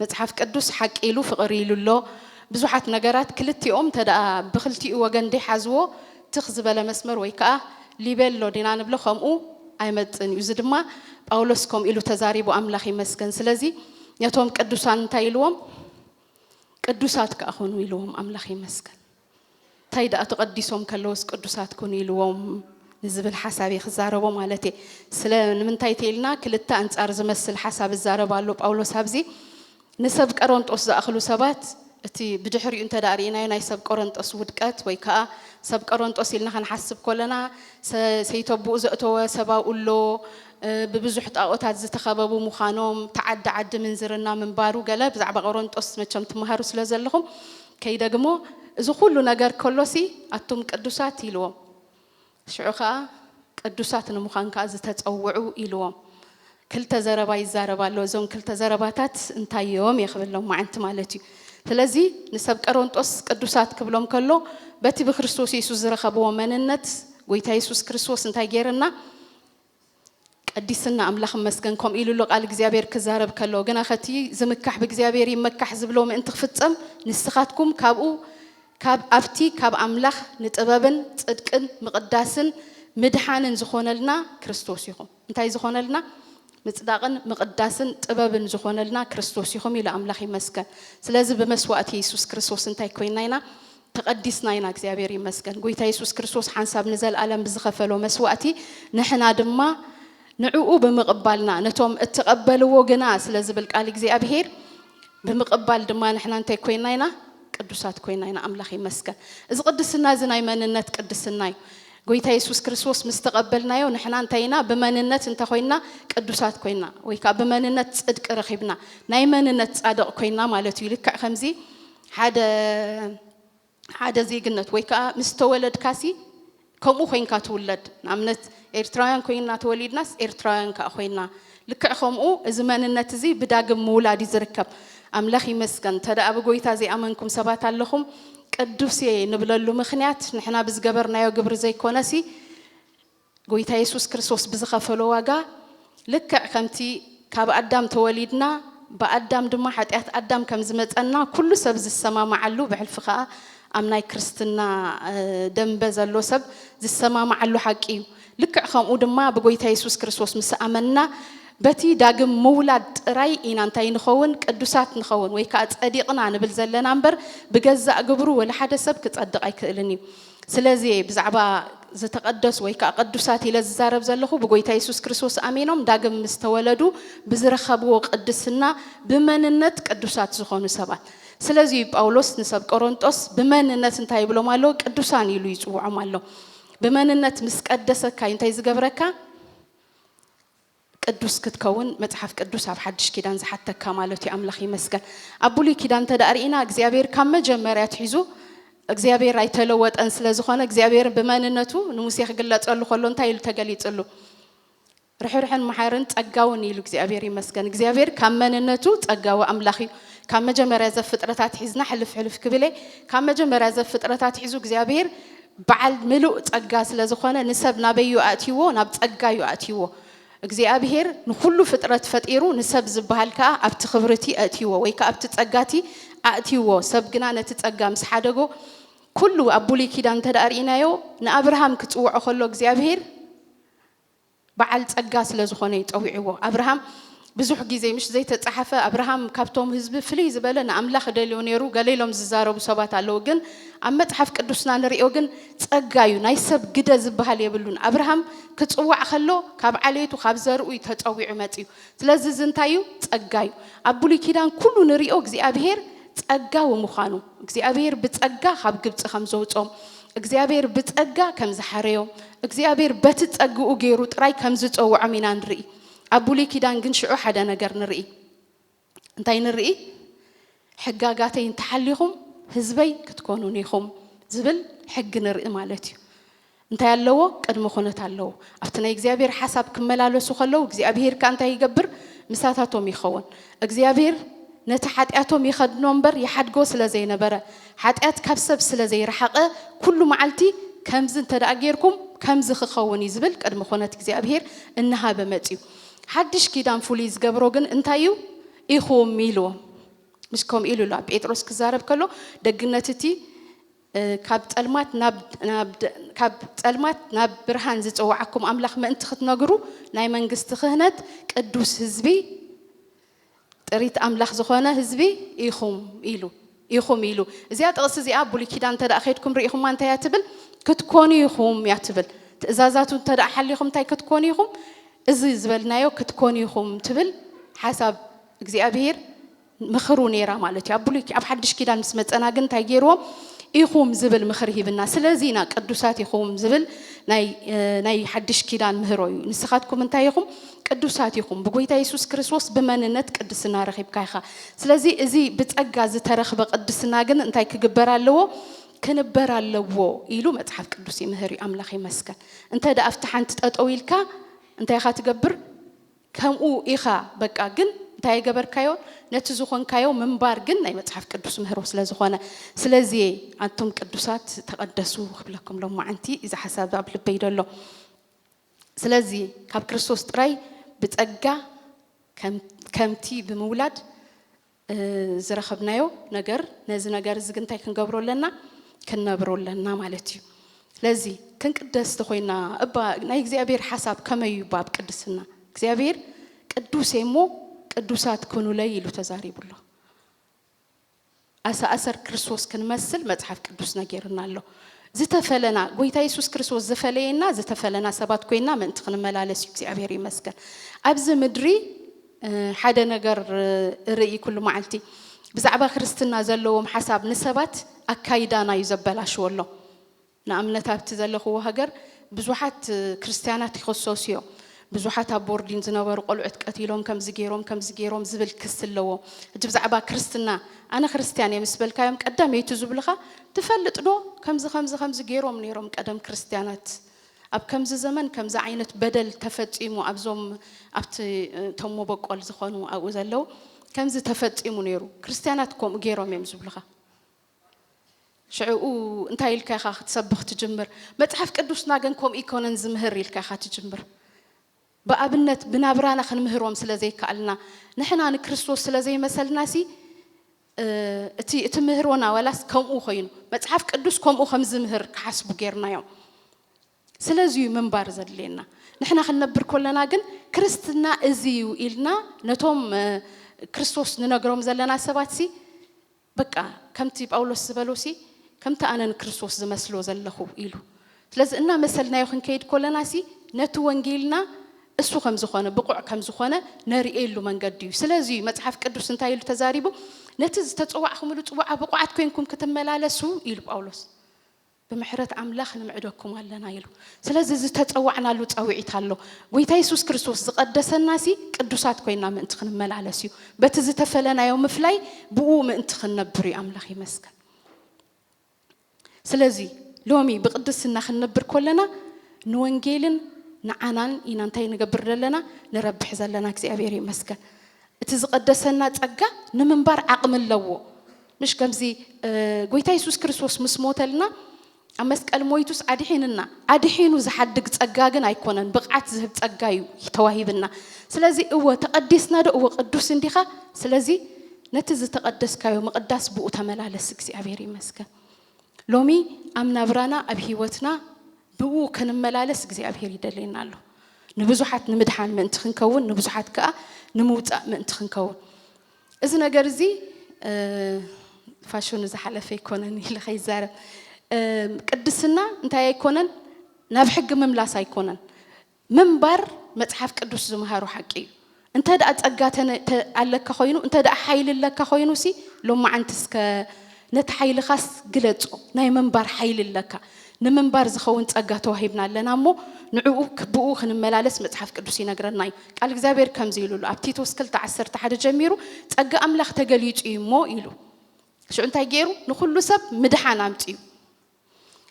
መጽሓፍ ቅዱስ ሓቂ ኢሉ ፍቕሪ ኢሉ ኣሎ። ብዙሓት ነገራት ክልቲኦም እንተ ደኣ ብኽልቲኡ ወገን ደይሓዝዎ ትኽ ዝበለ መስመር ወይ ከኣ ሊቤሎ ዲና ንብሎ ከምኡ ኣይመጽእን እዩ። እዚ ድማ ጳውሎስ ከምኡ ኢሉ ተዛሪቡ ኣምላኽ ይመስገን። ስለዚ ነቶም ቅዱሳን እንታይ ኢልዎም? ቅዱሳት ከኣ ኹኑ ኢልዎም ኣምላኽ ይመስገን እንታይ ደኣ ተቐዲሶም ከለውስ ቅዱሳት ኩኑ ኢልዎም ንዝብል ሓሳብ ክዛረቦ ማለት እየ ስለ ንምንታይ ተይልና ክልተ ኣንጻር ዝመስል ሓሳብ እዛረብ ኣሎ ጳውሎስ ኣብዚ ንሰብ ቀረንጦስ ዝኣኽሉ ሰባት እቲ ብድሕሪኡ እንተ ደኣ ርኢናዮ ናይ ሰብ ቆረንጦስ ውድቀት ወይ ከዓ ሰብ ቆረንጦስ ኢልና ከንሓስብ ኮለና ሰይተብኡ ዘእተወ ሰባኡ ኣሎ ብብዙሕ ጣኦታት ዝተኸበቡ ምዃኖም፣ ተዓዲ ዓዲ ምንዝርና ምንባሩ ገለ ብዛዕባ ቆሮንጦስ መቸም ትመሃሩ ስለ ዘለኹም ከይደግሞ እዚ ኩሉ ነገር ከሎሲ ኣቱም ቅዱሳት ኢልዎም ሽዑ ከኣ ቅዱሳት ንምዃን ከኣ ዝተጸውዑ ኢልዎም ክልተ ዘረባ ይዛረብ ኣሎ እዞም ክልተ ዘረባታት እንታይ እዮም እየ ክብሎም ማዓንቲ ማለት እዩ ስለዚ ንሰብ ቀሮንጦስ ቅዱሳት ክብሎም ከሎ በቲ ብክርስቶስ የሱስ ዝረኸብዎ መንነት ጎይታ የሱስ ክርስቶስ እንታይ ጌርና ቀዲስና ኣምላኽ እመስገን ከምኡ ኢሉ ኣሎ ቃል እግዚኣብሔር ክዛረብ ከሎ ግና ከቲ ዝምካሕ ብእግዚኣብሔር ይመካሕ ዝብሎ ምእንቲ ክፍጸም ንስኻትኩም ካብኡ ካብ ኣብቲ ካብ ኣምላኽ ንጥበብን ጽድቅን ምቕዳስን ምድሓንን ዝኾነልና ክርስቶስ ኢኹም እንታይ ዝኾነልና ምጽዳቕን ምቕዳስን ጥበብን ዝኾነልና ክርስቶስ ኢኹም ኢሉ ኣምላኽ ይመስገን ስለዚ ብመስዋእቲ የሱስ ክርስቶስ እንታይ ኮይና ኢና ተቀዲስና ኢና እግዚኣብሔር ይመስገን ጎይታ የሱስ ክርስቶስ ሓንሳብ ንዘልኣለም ብዝኸፈሎ መስዋእቲ ንሕና ድማ ንዕኡ ብምቅባልና ነቶም እትቀበልዎ ግና ስለ ዝብል ቃል እግዚኣብሔር ብምቅባል ድማ ንሕና እንታይ ኮይና ኢና ቅዱሳት ኮይና ኢና ኣምላኽ ይመስገን እዚ ቅድስና እዚ ናይ መንነት ቅድስና እዩ ጎይታ የሱስ ክርስቶስ ምስ ተቀበልናዮ ንሕና እንታይ ኢና ብመንነት እንተ ኮይና ቅዱሳት ኮይና ወይ ከዓ ብመንነት ጽድቂ ረኺብና ናይ መንነት ጻድቅ ኮይና ማለት እዩ ልክዕ ከምዚ ሓደ ሓደ ዜግነት ወይ ከኣ ምስ ተወለድካሲ ከምኡ ኮይንካ ትውለድ ንኣብነት ኤርትራውያን ኮይንና ተወሊድናስ ኤርትራውያን ከኣ ኮይንና ልክዕ ከምኡ እዚ መንነት እዚ ብዳግም ምውላድ እዩ ዝርከብ ኣምላኽ ይመስገን እንተደኣ ብጎይታ ዘይኣመንኩም ሰባት ኣለኹም ቅዱስ እየ ንብለሉ ምኽንያት ንሕና ብዝገበርናዮ ግብሪ ዘይኮነሲ ጎይታ የሱስ ክርስቶስ ብዝኸፈሎ ዋጋ ልክዕ ከምቲ ካብ ኣዳም ተወሊድና ብኣዳም ድማ ሓጢኣት ኣዳም ከም ዝመጸና ኩሉ ሰብ ዝሰማማዓሉ ብሕልፊ ከኣ ኣብ ናይ ክርስትና ደምበ ዘሎ ሰብ ዝሰማማዓሉ ሓቂ እዩ። ልክዕ ከምኡ ድማ ብጎይታ የሱስ ክርስቶስ ምስ ኣመንና በቲ ዳግም ምውላድ ጥራይ ኢና እንታይ ንኸውን ቅዱሳት ንኸውን ወይ ከኣ ጸዲቕና ንብል ዘለና እምበር ብገዛእ ግብሩ ወላ ሓደ ሰብ ክጸድቕ ኣይክእልን እዩ። ስለዚ እየ ብዛዕባ ዝተቐደሱ ወይ ከኣ ቅዱሳት ኢለ ዝዛረብ ዘለኹ፣ ብጎይታ የሱስ ክርስቶስ ኣሚኖም ዳግም ምስ ተወለዱ ብዝረኸብዎ ቅድስና ብመንነት ቅዱሳት ዝኾኑ ሰባት። ስለዚ እዩ ጳውሎስ ንሰብ ቆሮንጦስ ብመንነት እንታይ ይብሎም ኣሎ? ቅዱሳን ኢሉ ይጽውዖም ኣሎ። ብመንነት ምስ ቀደሰካ እዩ እንታይ ዝገብረካ? ቅዱስ ክትከውን መጽሓፍ ቅዱስ ኣብ ሓድሽ ኪዳን ዝሓተካ ማለት እዩ ኣምላኽ ይመስገን ኣብ ብሉይ ኪዳን እንተደኣ ርኢና እግዚኣብሔር ካብ መጀመርያ ኣትሒዙ እግዚኣብሔር ኣይተለወጠን ስለ ዝኾነ እግዚኣብሔር ብመንነቱ ንሙሴ ክግለጸሉ ከሎ እንታይ ኢሉ ተገሊጽሉ ርሕርሕን መሓርን ጸጋውን ኢሉ እግዚኣብሔር ይመስገን እግዚኣብሔር ካብ መንነቱ ጸጋዊ ኣምላኽ እዩ ካብ መጀመርያ ዘፍጥረታት ሒዝና ሕልፍ ሕልፍ ክብለ ካብ መጀመርያ ዘፍጥረታት ሒዙ እግዚኣብሔር በዓል ምሉእ ጸጋ ስለ ዝኾነ ንሰብ ናበይ'ዩ ኣእትይዎ? ናብ ጸጋ'ዩ ኣእትይዎ። እግዚኣብሄር ንኹሉ ፍጥረት ፈጢሩ ንሰብ ዝበሃል ከኣ ኣብቲ ክብሪ'ቲ ኣእትይዎ ወይ ከኣ ኣብቲ ጸጋ'ቲ ኣእትይዎ። ሰብ ግና ነቲ ጸጋ ምስ ሓደጎ ኩሉ ኣብ ብሉይ ኪዳን እንተደኣ ርኢናዮ ንኣብርሃም ክጽውዖ ከሎ እግዚኣብሄር፣ በዓል ጸጋ ስለ ዝኾነ እዩ ጠዊዕዎ። ኣብርሃም ብዙሕ ግዜ ምሽ ዘይተጻሓፈ ኣብርሃም ካብቶም ህዝቢ ፍልይ ዝበለ ንኣምላኽ እደልዮ ኔሩ ገለ ኢሎም ዝዛረቡ ሰባት ኣለዉ ግን ኣብ መጽሓፍ ቅዱስና ንሪኦ ግን ጸጋ እዩ ናይ ሰብ ግደ ዝብሃል የብሉን ኣብርሃም ክጽዋዕ ከሎ ካብ ዓሌቱ ካብ ዘርኡ እዩ ተጸዊዑ መጽዩ ስለዚ እዚ እንታይ እዩ ጸጋ እዩ ኣብ ብሉይ ኪዳን ኩሉ ንሪኦ እግዚኣብሄር ጸጋዊ ምዃኑ እግዚኣብሄር ብጸጋ ካብ ግብጺ ከም ዘውጾም እግዚኣብሔር ብጸጋ ከም ዝሓረዮም፣ እግዚኣብሔር በቲ ጸግኡ ገይሩ ጥራይ ከም ዝጸውዖም ኢና ንርኢ። ኣብ ብሉይ ኪዳን ግን ሽዑ ሓደ ነገር ንርኢ። እንታይ ንርኢ? ሕጋጋተይ እንተሓሊኹም ህዝበይ ክትኮኑኒ ኢኹም ዝብል ሕጊ ንርኢ ማለት እዩ። እንታይ ኣለዎ? ቅድሚ ኩነት ኣለዎ። ኣብቲ ናይ እግዚኣብሔር ሓሳብ ክመላለሱ ከለዉ እግዚኣብሔር ከኣ እንታይ ይገብር? ምሳታቶም ይኸውን። እግዚኣብሄር ነቲ ሓጢኣቶም ይኸድኖ እምበር ይሓድጎ ስለ ዘይነበረ፣ ሓጢኣት ካብ ሰብ ስለ ዘይረሓቐ፣ ኩሉ መዓልቲ ከምዚ እንተ ደኣ ጌርኩም ከምዚ ክኸውን እዩ ዝብል ቅድመ ኹነት እግዚኣብሄር እናሃበ መጺኡ። ሓድሽ ኪዳን ፍሉይ ዝገብሮ ግን እንታይ እዩ? ኢኹም ኢልዎም ምስ ከምኡ ኢሉ ኣሎ ኣብ ጴጥሮስ ክዛረብ ከሎ ደግነት እቲ ካብ ጸልማት ናብ ካብ ጸልማት ናብ ብርሃን ዝጽውዓኩም ኣምላኽ ምእንቲ ክትነግሩ ናይ መንግስቲ ክህነት ቅዱስ ህዝቢ ጥሪት ኣምላኽ ዝኾነ ህዝቢ ኢኹም ኢሉ ኢኹም ኢሉ እዚኣ ጥቕሲ እዚኣ ብሉይ ኪዳን እንተ ከድኩም ርኢኹማ እንታይ እያ ትብል ክትኮኑ ኢኹም እያ ትብል ትእዛዛቱ እንተ ሓሊኹም እንታይ ክትኮኑ ኢኹም እዚ ዝበልናዮ ክትኮኑ ኢኹም ትብል ሓሳብ እግዚኣብሄር ምክሩ ነይራ ማለት እዩ ኣብ ብሉይ ኣብ ሓድሽ ኪዳን ምስ መፀና ግን እንታይ ገይርዎም ኢኹም ዝብል ምክሪ ሂብና ስለዚ ኢና ቅዱሳት ኢኹም ዝብል ናይ ሓድሽ ኪዳን ምህሮ እዩ ንስኻትኩም እንታይ ኢኹም ቅዱሳት ኢኹም ብጎይታ የሱስ ክርስቶስ ብመንነት ቅድስና ረኺብካ ኢኻ ስለዚ እዚ ብጸጋ ዝተረኽበ ቅድስና ግን እንታይ ክግበር ኣለዎ ክንበር ኣለዎ ኢሉ መጽሓፍ ቅዱስ ይምህር እዩ ኣምላኽ ይመስገን እንተ ደኣ ኣብቲ ሓንቲ ጠጠው ኢልካ እንታይ ኢኻ ትገብር ከምኡ ኢኻ በቃ ግን እንታይ ኣይገበርካዮ ነቲ ዝኾንካዮ ምንባር ግን ናይ መጽሓፍ ቅዱስ ምህሮ ስለ ዝኾነ ስለዚ እየ ኣንቱም ቅዱሳት ተቐደሱ ክብለኩም ሎማዓንቲ እዚ ሓሳብ ኣብ ልበይ ደሎ ስለዚ ካብ ክርስቶስ ጥራይ ብጸጋ ከምቲ ብምውላድ ዝረኸብናዮ ነገር ነዚ ነገር እዚ ግን እንታይ ክንገብሮ ኣለና ክንነብሮ ኣለና ማለት እዩ ለዚ ክንቅደስ ተኾይና እባ ናይ እግዚኣብሔር ሓሳብ ከመይ እዩ ባብ ቅድስና እግዚኣብሔር ቅዱስ እየ እሞ ቅዱሳት ክኑለይ ኢሉ ተዛሪቡ ኣሎ ኣሰኣሰር ክርስቶስ ክንመስል መጽሓፍ ቅዱስ ነገርና ኣሎ ዝተፈለና ጎይታ የሱስ ክርስቶስ ዝፈለየና ዝተፈለና ሰባት ኮይና ምእንቲ ክንመላለስ እዩ እግዚኣብሔር ይመስገን ኣብዚ ምድሪ ሓደ ነገር እርእይ ኩሉ መዓልቲ ብዛዕባ ክርስትና ዘለዎም ሓሳብ ንሰባት ኣካይዳና እዩ ዘበላሽዎሎም ንኣምነት ኣብቲ ዘለክዎ ሃገር ብዙሓት ክርስትያናት ይክሰሱ እዮም ብዙሓት ኣብ ቦርዲን ዝነበሩ ቆልዑት ቀቲሎም ከምዚ ጌሮም ከምዚ ጌሮም ዝብል ክሲ ኣለዎም ሕጂ ብዛዕባ ክርስትና ኣነ ክርስትያን እየ ምስ በልካዮም ቀዳመይቲ ዝብልካ ትፈልጥ ዶ ከምዚ ከምዚ ከምዚ ጌሮም ኔሮም ቀደም ክርስትያናት ኣብ ከምዚ ዘመን ከምዚ ዓይነት በደል ተፈጺሙ ኣብዞም ኣብቲ እቶም ሞበቆል ዝኾኑ ኣብኡ ዘለው ከምዚ ተፈጺሙ ነይሩ ክርስትያናት ከምኡ ገይሮም እዮም ዝብሉኻ ሽዕኡ እንታይ ኢልካ ኢኻ ክትሰብኽ ትጅምር መጽሓፍ ቅዱስና ግን ከምኡ ኣይኮነን ዝምህር ኢልካ ኢኻ ትጅምር ብኣብነት ብናብራና ክንምህሮም ስለ ዘይከኣልና ንሕና ንክርስቶስ ስለ ዘይመሰልናሲ እቲ እቲ ምህሮና ዋላስ ከምኡ ኮይኑ መጽሓፍ ቅዱስ ከምኡ ከም ዝምህር ክሓስቡ ጌርናዮም። ስለዚ እዩ ምንባር ዘድልየና። ንሕና ክንነብር ኮለና ግን ክርስትና እዚ እዩ ኢልና ነቶም ክርስቶስ ንነግሮም ዘለና ሰባትሲ በቃ ከምቲ ጳውሎስ ዝበሎሲ ከምቲ ኣነ ንክርስቶስ ዝመስሎ ዘለኹ ኢሉ ስለዚ እናመሰልናዮ ክንከይድ ኮለናሲ ነቲ ወንጌልና እሱ ከምዝኾነ ብቑዕ ከምዝኾነ ነርእየሉ መንገዲ እዩ ስለዚ እዩ መጽሓፍ ቅዱስ እንታይ ኢሉ ተዛሪቡ ነቲ ዝተጸዋዕኹምሉ ጽዋዓ ብቑዓት ኮይንኩም ክትመላለሱ ኢሉ ጳውሎስ ብምሕረት ኣምላኽ ንምዕደኩም ኣለና ኢሉ። ስለዚ ዝተጸዋዕናሉ ጻውዒት ኣሎ። ጎይታ የሱስ ክርስቶስ ዝቐደሰናሲ ቅዱሳት ኮይና ምእንቲ ክንመላለስ እዩ። በቲ ዝተፈለናዮ ምፍላይ ብእኡ ምእንቲ ክንነብር እዩ። ኣምላኽ ይመስገን። ስለዚ ሎሚ ብቅድስና ክንነብር ኮለና ንወንጌልን ንዓናን ኢና እንታይ ንገብር ዘለና ንረብሕ ዘለና እግዚኣብሔር ይመስገን። እቲ ዝቐደሰና ጸጋ ንምንባር ዓቕሚ ኣለዎ። ምሽ ከምዚ ጎይታ የሱስ ክርስቶስ ምስ ሞተልና ኣብ መስቀል ሞይቱስ ኣድሒንና ኣድሒኑ ዝሓድግ ጸጋ ግን ኣይኮነን ብቕዓት ዝህብ ጸጋ እዩ ተዋሂብና ስለዚ እወ ተቐዲስና ዶ እወ ቅዱስ እንዲኻ ስለዚ ነቲ ዝተቐደስካዮ ምቕዳስ ብኡ ተመላለስ እግዚኣብሔር ይመስገን ሎሚ ኣብ ናብራና ኣብ ህይወትና ብኡ ክንመላለስ እግዚኣብሔር ይደልየና ኣሎ ንብዙሓት ንምድሓን ምእንቲ ክንከውን ንብዙሓት ከዓ ንምውፃእ ምእንቲ ክንከውን እዚ ነገር እዚ ፋሽኑ ዝሓለፈ ኣይኮነን ኢለ ከይዛረብ ቅድስና እንታይ ኣይኮነን ናብ ሕጊ ምምላስ ኣይኮነን ምንባር መጽሓፍ ቅዱስ ዝምሃሮ ሓቂ እዩ እንተ ደኣ ጸጋ ኣለካ ኮይኑ እንተ ደኣ ሓይሊ ኣለካ ኮይኑ ሲ ሎማዓንቲ እስከ ነቲ ሓይልኻስ ግለጾ ናይ ምንባር ሓይሊ ኣለካ ንምንባር ዝኸውን ጸጋ ተዋሂብና ኣለና እሞ ንዕኡ ብኡ ክንመላለስ መጽሓፍ ቅዱስ ይነግረና እዩ። ቃል እግዚኣብሔር ከምዚ ኢሉ ኣሎ ኣብ ቲቶስ ክልተ ዓሰርተ ሓደ ጀሚሩ ጸጋ ኣምላኽ ተገሊጹ እዩ እሞ ኢሉ ሽዑ እንታይ ገይሩ ንኹሉ ሰብ ምድሓን ኣምጺኡ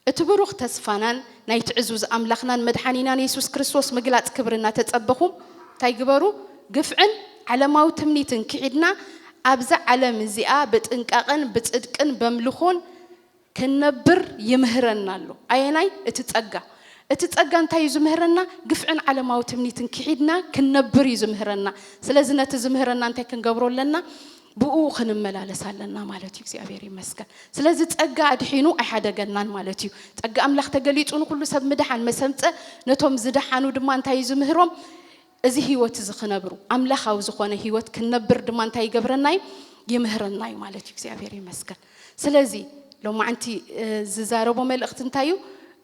እቲ ብሩኽ ተስፋናን ናይቲ ዕዙዝ ኣምላኽናን መድሓኒናን የሱስ ክርስቶስ ምግላጽ ክብሪ እናተጸበኹም እንታይ ግበሩ ግፍዕን ዓለማዊ ትምኒትን ክሒድና ኣብዛ ዓለም እዚኣ ብጥንቃቐን ብጽድቅን በምልኾን ክንነብር ይምህረና ኣሎ። ኣየናይ? እቲ ጸጋ። እቲ ጸጋ እንታይ እዩ ዝምህረና? ግፍዕን ዓለማዊ ትምኒትን ክሒድና ክንነብር እዩ ዝምህረና። ስለዚ ነቲ ዝምህረና እንታይ ክንገብሮ ኣለና? ብእኡ ክንመላለስ ኣለና ማለት እዩ። እግዚኣብሔር ይመስገን። ስለዚ ጸጋ ኣድሒኑ ኣይሓደገናን ማለት እዩ። ጸጋ ኣምላኽ ተገሊጹ ንኹሉ ሰብ ምድሓን መሰምጸ ነቶም ዝደሓኑ ድማ እንታይ እዩ ዝምህሮም? እዚ ህይወት እዚ ክነብሩ ኣምላኻዊ ዝኾነ ህይወት ክንነብር ድማ እንታይ ይገብረና እዩ ይምህረና እዩ ማለት እዩ እግዚኣብሔር ይመስገን ስለዚ ሎማዕንቲ ዝዛረቦ መልእኽቲ እንታይ እዩ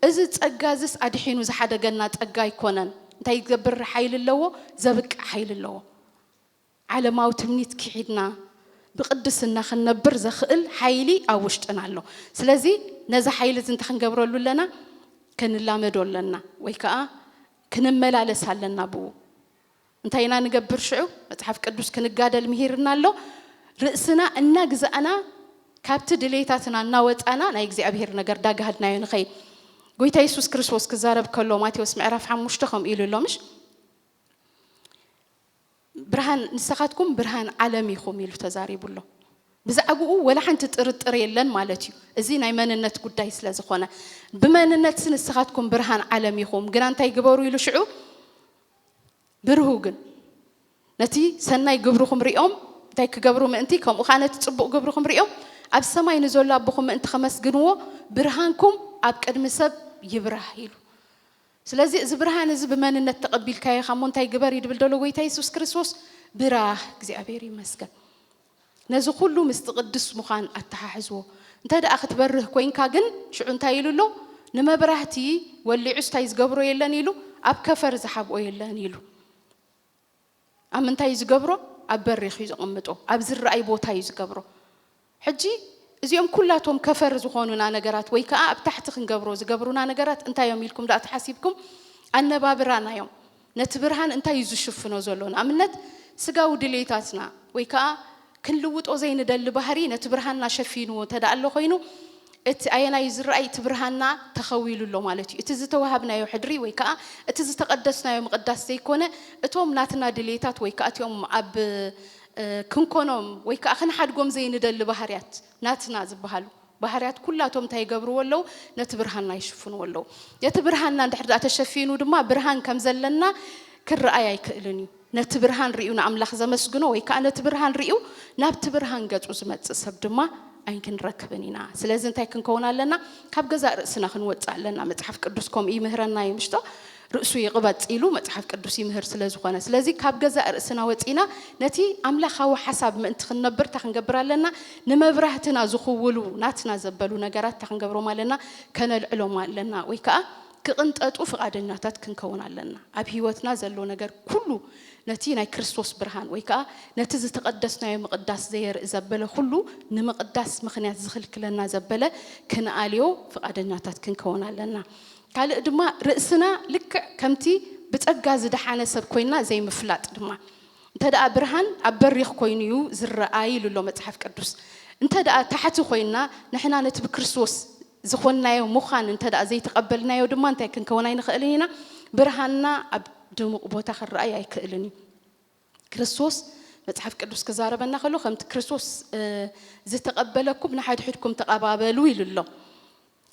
እዚ ጸጋ እዝስ ኣድሒኑ ዝሓደገና ጸጋ ኣይኮነን እንታይ ዝገብር ሓይሊ ኣለዎ ዘብቅዕ ሓይሊ ኣለዎ ዓለማዊ ትምኒት ክሒድና ብቅድስና ክንነብር ዘኽእል ሓይሊ ኣብ ውሽጥና ኣሎ። ስለዚ ነዚ ሓይሊ እዚ እንታይ ክንገብረሉ ኣለና? ክንላመዶ ኣለና ወይ ከኣ ክንመላለስ ኣለና ብኡ። እንታይ ኢና ንገብር ሽዑ? መጽሓፍ ቅዱስ ክንጋደል ምሂርና ኣሎ። ርእስና እናግዛእና ካብቲ ድሌታትና እናወጻና ናይ እግዚኣብሄር ነገር ዳጋሃድናዮ ንኸይድ። ጎይታ የሱስ ክርስቶስ ክዛረብ ከሎ ማቴዎስ ምዕራፍ ሓሙሽተ ከምኡ ኢሉ ኣሎ ምሽ? ብርሃን ንሰኻትኩም ብርሃን ዓለም ኢኹም ኢሉ ተዛሪቡ ኣሎ። ብዛዕብኡ ወላ ሓንቲ ጥርጥር የለን ማለት እዩ። እዚ ናይ መንነት ጉዳይ ስለ ዝኾነ ብመንነትሲ ንስኻትኩም ብርሃን ዓለም ኢኹም ግና እንታይ ግበሩ ኢሉ ሽዑ ብርሁ ግን ነቲ ሰናይ ግብርኹም ሪኦም እንታይ ክገብሩ ምእንቲ ከምኡ ከዓ ነቲ ጽቡቕ ግብርኹም ሪኦም ኣብ ሰማይ ንዘሎ ኣቦኹም ምእንቲ ከመስግንዎ ብርሃንኩም ኣብ ቅድሚ ሰብ ይብራህ ኢሉ ስለዚ እዚ ብርሃን እዚ ብመንነት ተቀቢልካዮ ኢካ እሞ እንታይ ግበር እዩ ድብል ደሎ ጎይታ የሱስ ክርስቶስ ብራህ እግዚኣብሔር ይመስገን ነዚ ኩሉ ምስቲ ቅዱስ ምዃን ኣተሓሕዝዎ እንተ ደኣ ክትበርህ ኮንካ ግን ሽዑ እንታይ ኢሉ ኣሎ ንመብራህቲ ወሊዑስ እንታይ ዝገብሮ የለን ኢሉ ኣብ ከፈር ዝሓብኦ የለን ኢሉ ኣብ ምንታይ እዩ ዝገብሮ ኣብ በሪኽ እዩ ዘቐምጦ ኣብ ዝረኣይ ቦታ እዩ ዝገብሮ ሕጂ እዚኦም ኩላቶም ከፈር ዝኾኑና ነገራት ወይ ከኣ ኣብ ታሕቲ ክንገብሮ ዝገብሩና ነገራት እንታይ እዮም ኢልኩም ደኣ ተሓሲብኩም ኣነባብራና እዮም ነቲ ብርሃን እንታይ እዩ ዝሽፍኖ ዘሎ ንኣብነት ስጋዊ ድሌታትና ወይ ከኣ ክንልውጦ ዘይንደሊ ባህሪ ነቲ ብርሃንና ሸፊንዎ እንተድኣ ኣሎ ኮይኑ እቲ ኣየናይ እዩ ዝረኣይ? እቲ ብርሃንና ተኸዊሉ ኣሎ ማለት እዩ። እቲ ዝተዋሃብናዮ ሕድሪ ወይ ከኣ እቲ ዝተቐደስናዮ ምቕዳስ ዘይኮነ እቶም ናትና ድልየታት ወይ ከኣ እቲኦም ኣብ ክንኮኖም ወይ ከኣ ክንሓድጎም ዘይንደሊ ባህርያት ናትና ዝበሃሉ ባህርያት ኩላቶም እንታይ ይገብርዎ ኣለዉ? ነቲ ብርሃንና ይሽፍንዎ ኣለዉ። ነቲ ብርሃንና እንድሕር ደኣ ተሸፊኑ ድማ ብርሃን ከም ዘለና ክርኣይ ኣይክእልን እዩ። ነቲ ብርሃን ርእዩ ንኣምላኽ ዘመስግኖ ወይ ከኣ ነቲ ብርሃን ርእዩ ናብቲ ብርሃን ገጹ ዝመጽእ ሰብ ድማ ኣይንክንረክብን ኢና። ስለዚ እንታይ ክንከውን ኣለና? ካብ ገዛእ ርእስና ክንወጽእ ኣለና። መጽሓፍ ቅዱስ ከምኡ ይምህረና እዩ ምሽቶ? ርእሱ ይቕበጽ ኢሉ መጽሓፍ ቅዱስ ይምህር ስለ ዝኾነ። ስለዚ ካብ ገዛእ ርእስና ወጺእና ነቲ ኣምላኻዊ ሓሳብ ምእንቲ ክንነብር እንታይ ክንገብር ኣለና? ንመብራህትና ዝኽውሉ ናትና ዘበሉ ነገራት እንታይ ክንገብሮም ኣለና? ከነልዕሎም ኣለና ወይ ከኣ ክቕንጠጡ ፍቓደኛታት ክንከውን ኣለና። ኣብ ህይወትና ዘሎ ነገር ኩሉ ነቲ ናይ ክርስቶስ ብርሃን ወይ ከኣ ነቲ ዝተቐደስናዮ ምቕዳስ ዘየርኢ ዘበለ ኩሉ ንምቕዳስ ምኽንያት ዝኽልክለና ዘበለ ክንኣልዮ ፍቓደኛታት ክንከውን ኣለና። ካልእ ድማ ርእስና ልክዕ ከምቲ ብጸጋ ዝደሓነ ሰብ ኮይንና ዘይምፍላጥ ድማ እንተደኣ ብርሃን ኣብ በሪኽ ኮይኑ እዩ ዝረኣ ኢሉ ኣሎ መጽሓፍ ቅዱስ። እንተደኣ ታሕቲ ኮይንና ንሕና ነቲ ብክርስቶስ ዝኾንናዮ ምዃን እንተደኣ ዘይተቐበልናዮ ድማ እንታይ ክንከውን ኣይንኽእልን ኢና፣ ብርሃንና ኣብ ድሙቕ ቦታ ክረኣይ ኣይክእልን እዩ። ክርስቶስ መጽሓፍ ቅዱስ ክዛረበና ከሎ ከምቲ ክርስቶስ ዝተቐበለኩም ንሓድሕድኩም ተቐባበሉ ኢሉ ኣሎ።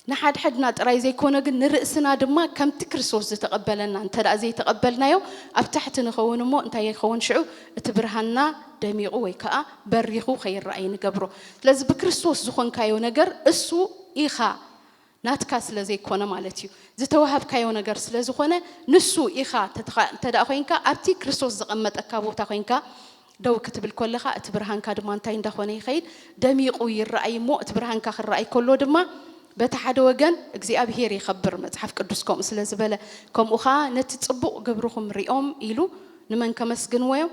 ንሓድሕድና ጥራይ ዘይኮነ ግን ንርእስና ድማ ከምቲ ክርስቶስ ዝተቐበለና እንተ ዘይተቐበልናዮ ኣብ ታሕቲ ንኸውን እሞ እንታይ ይኸውን ሽዑ እቲ ብርሃንና ደሚቑ ወይ ከዓ በሪኹ ከይረኣይ ንገብሮ። ስለዚ ብክርስቶስ ዝኾንካዮ ነገር እሱ ኢኻ ናትካ ስለ ዘይኮነ ማለት እዩ። ዝተዋሃብካዮ ነገር ስለ ዝኾነ ንሱ ኢኻ እንተድኣ ኮይንካ ኣብቲ ክርስቶስ ዘቐመጠካ ቦታ ኮይንካ ደው ክትብል ኮለኻ እቲ ብርሃንካ ድማ እንታይ እንዳኾነ ይኸይድ ደሚቑ ይረኣይ እሞ እቲ ብርሃንካ ክረኣይ ኮሎ ድማ በቲ ሓደ ወገን እግዚኣብሄር ይኸብር መጽሓፍ ቅዱስ ከምኡ ስለ ዝበለ ከምኡ ኸኣ ነቲ ጽቡቕ ግብርኹም ሪኦም ኢሉ ንመን ከመስግንዎ እዮም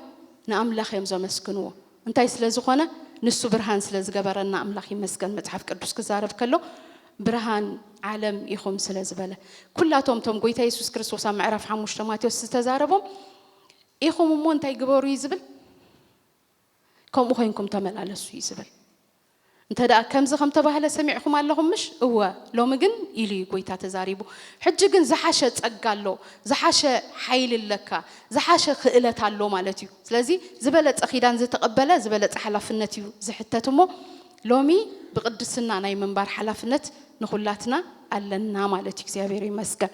ንኣምላኽ እዮም ዘመስግንዎ እንታይ ስለ ዝኾነ ንሱ ብርሃን ስለ ዝገበረና ኣምላኽ ይመስገን መጽሓፍ ቅዱስ ክዛረብ ከሎ ብርሃን ዓለም ኢኹም ስለ ዝበለ ኩላቶም እቶም ጎይታ የሱስ ክርስቶስ ኣብ ምዕራፍ ሓሙሽተ ማቴዎስ ዝተዛረቦም ኢኹም እሞ እንታይ ግበሩ እዩ ዝብል ከምኡ ኮይንኩም ተመላለሱ እዩ ዝብል እንተደኣ ከምዚ ከም ተባህለ ሰሚዕኩም ኣለኹም ምሽ? እወ፣ ሎሚ ግን ኢሉ እዩ ጐይታ ተዛሪቡ። ሕጂ ግን ዝሓሸ ጸጋ ኣሎ፣ ዝሓሸ ሓይሊ ኣለካ፣ ዝሓሸ ክእለት ኣሎ ማለት እዩ። ስለዚ ዝበለጸ ኪዳን ዝተቐበለ ዝበለጸ ሓላፍነት እዩ ዝሕተት እሞ ሎሚ ብቕድስና ናይ ምንባር ሓላፍነት ንኹላትና ኣለና ማለት እዩ። እግዚኣብሔር ይመስገን።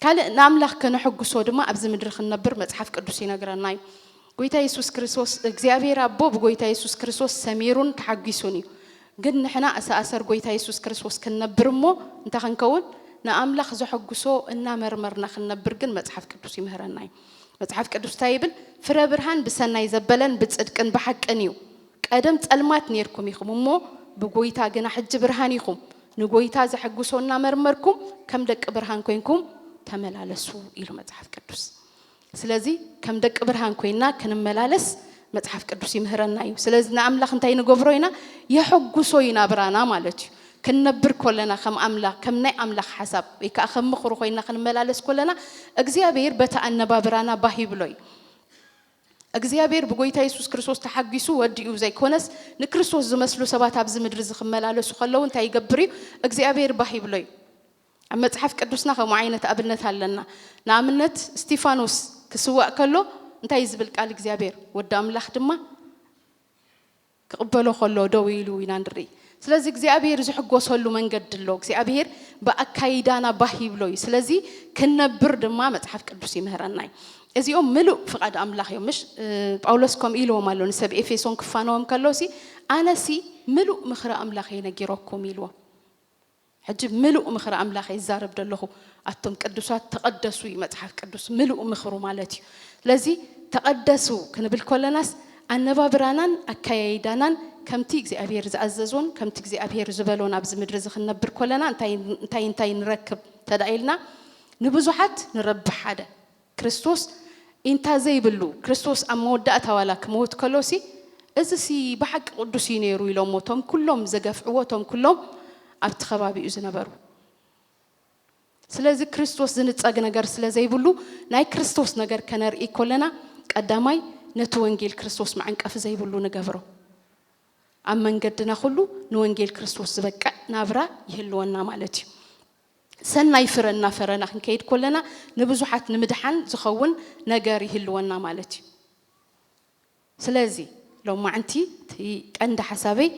ካልእ ንኣምላኽ ከነሐጉሶ ድማ ኣብዚ ምድሪ ክንነብር መጽሓፍ ቅዱስ ይነግረና እዩ። ጎይታ የሱስ ክርስቶስ እግዚኣብሔር ኣቦ ብጎይታ የሱስ ክርስቶስ ሰሚሩን ተሓጊሱን እዩ ግን ንሕና እሰኣሰር ጎይታ የሱስ ክርስቶስ ክንነብር እሞ እንታይ ክንከውን ንኣምላኽ ዘሐጉሶ እናመርመርና ክንነብር ግን መጽሓፍ ቅዱስ ይምህረና እዩ መጽሓፍ ቅዱስ እንታይ ይብል ፍረ ብርሃን ብሰናይ ዘበለን ብጽድቅን ብሓቅን እዩ ቀደም ጸልማት ነርኩም ኢኹም እሞ ብጎይታ ግና ሕጂ ብርሃን ኢኹም ንጎይታ ዘሐጉሶ እናመርመርኩም ከም ደቂ ብርሃን ኮንኩም ተመላለሱ ኢሉ መጽሓፍ ቅዱስ ስለዚ ከም ደቂ ብርሃን ኮይና ክንመላለስ መጽሓፍ ቅዱስ ይምህረና እዩ። ስለዚ ንኣምላኽ እንታይ ንገብሮ ኢና? የሐጉሶ እዩ ናብራና ማለት እዩ። ክንነብር ኮለና ከም ኣምላኽ ከም ናይ ኣምላኽ ሓሳብ ወይ ከዓ ከም ምኽሩ ኮይና ክንመላለስ ኮለና እግዚኣብሔር በቲ ኣነባብራና ባህ ይብሎ እዩ። እግዚኣብሔር ብጎይታ የሱስ ክርስቶስ ተሓጒሱ ወዲኡ ዘይኮነስ ንክርስቶስ ዝመስሉ ሰባት ኣብዚ ምድሪ እዚ ክመላለሱ ከለዉ እንታይ ይገብር እዩ? እግዚኣብሔር ባህ ይብሎ እዩ። ኣብ መጽሓፍ ቅዱስና ከምኡ ዓይነት ኣብነት ኣለና። ንኣብነት እስጢፋኖስ ክስዋእ ከሎ እንታይ እዩ ዝብል ቃል እግዚኣብሔር ወዲ ኣምላኽ ድማ ክቕበሎ ከሎ ደው ኢሉ ኢና ንርኢ። ስለዚ እግዚኣብሔር ዝሕጎሰሉ መንገዲ ኣሎ። እግዚኣብሔር ብኣካይዳና ባህ ይብሎ እዩ። ስለዚ ክንነብር ድማ መጽሓፍ ቅዱስ ይምህረና እዩ። እዚኦም ምሉእ ፍቓድ ኣምላኽ እዮም ምሽ ጳውሎስ ከምኡ ኢልዎም ኣሎ ንሰብ ኤፌሶን ክፋነዎም ከሎሲ ኣነሲ ምሉእ ምኽሪ ኣምላኽ እየ ነጊረኩም ኢልዎም ሕጂ ምሉእ ምኽሪ ኣምላኽ እየ ዝዛረብ ደለኹ ኣቱም ቅዱሳት ተቐደሱ እዩ መጽሓፍ ቅዱስ ምሉእ ምኽሩ ማለት እዩ ስለዚ ተቐደሱ ክንብል ኮለናስ ኣነባብራናን ኣካያይዳናን ከምቲ እግዚኣብሔር ዝኣዘዞን ከምቲ እግዚኣብሔር ዝበሎን ኣብዚ ምድሪ እዚ ክንነብር ኮለና እንታይ እንታይ ንረክብ ተዳኢልና ንብዙሓት ንረብሕ ሓደ ክርስቶስ ኢንታ ዘይብሉ ክርስቶስ ኣብ መወዳእታ ዋላ ክመውት ከሎሲ እዚሲ ብሓቂ ቅዱስ እዩ ነይሩ ኢሎሞ እቶም ኩሎም ዘገፍዕዎ እቶም ኩሎም ኣብቲ ከባቢኡ ዝነበሩ ስለዚ ክርስቶስ ዝንጸግ ነገር ስለ ዘይብሉ ናይ ክርስቶስ ነገር ከነርኢ ኮለና ቀዳማይ ነቲ ወንጌል ክርስቶስ መዐንቀፊ ዘይብሉ ንገብሮ ኣብ መንገድና ኩሉ ንወንጌል ክርስቶስ ዝበቅዕ ናብራ ይህልወና ማለት እዩ። ሰናይ ፍረ እናፈረና ክንከይድ ኮለና ንብዙሓት ንምድሓን ዝኸውን ነገር ይህልወና ማለት እዩ። ስለዚ ሎማዕንቲ እቲ ቀንዲ ሓሳበይ